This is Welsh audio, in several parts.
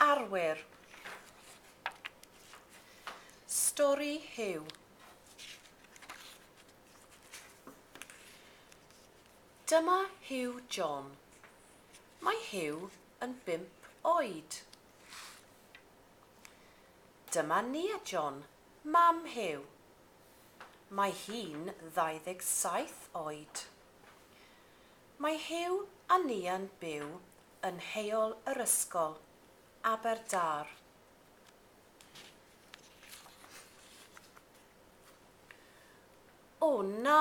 Arwyr. Stori Huw. Dyma Huw John. Mae Huw yn bump oed. Dyma Nia John, mam Huw. Mae hi'n 27 oed. Mae Huw a Lia'n byw yn Heol yr Ysgol, Aberdâr. O na!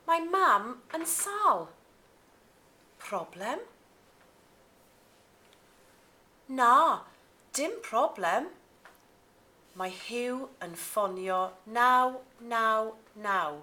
Mae Mam yn sâl. Problem? Na, dim problem. Mae Huw yn ffonio 999.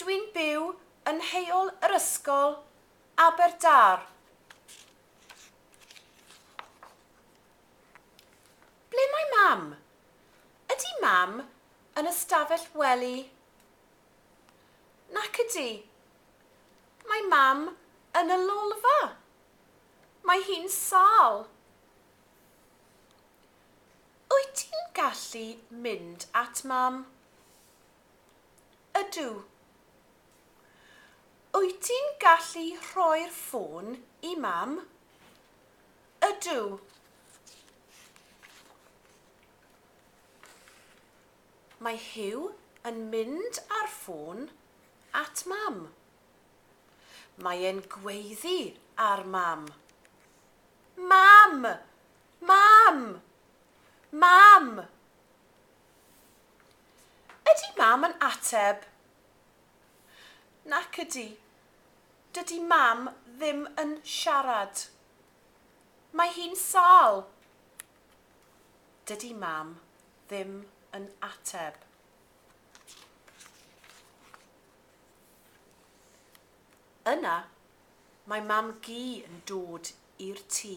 Dwi'n byw yn Heol yr Ysgol, Aberdâr. Ble mae Mam? Ydy Mam yn y stafell wely? Nac ydy. Mae Mam yn y lolfa. Mae hi'n sâl. Wyt ti'n gallu mynd at Mam? Ydw. Wyt ti'n gallu rhoi'r ffôn i Mam? Ydw. Mae Huw yn mynd â'r ffôn at Mam. Mae e'n gweiddi ar Mam. Mam! Mam! Mam! Ydy Mam yn ateb? Nac ydy. Dydy Mam ddim yn siarad. Mae hi'n sâl. Dydy Mam ddim yn ateb. Yna mae Mam-gu yn dod i'r tŷ.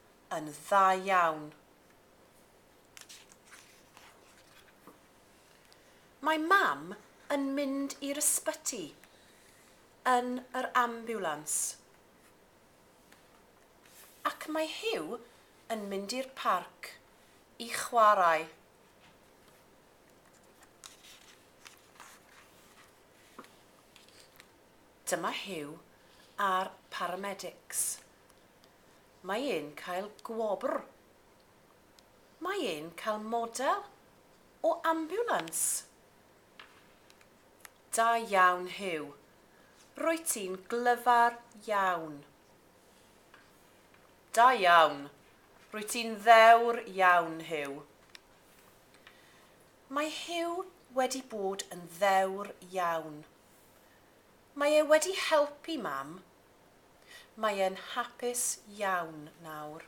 yn dda iawn. Mae mam yn mynd i'r ysbyty yn yr ambiwlans. Ac mae Huw yn mynd i'r parc i chwarae. Dyma Huw a'r paramedics. Mae e'n cael gwobr. Mae e'n cael model o ambiwlans. Da iawn, Huw. Rwyt ti'n glyfar iawn. Da iawn. Rwyt ti'n ddewr iawn, Huw. Mae Huw wedi bod yn ddewr iawn. Mae e wedi helpu Mam Mae e'n hapus iawn nawr.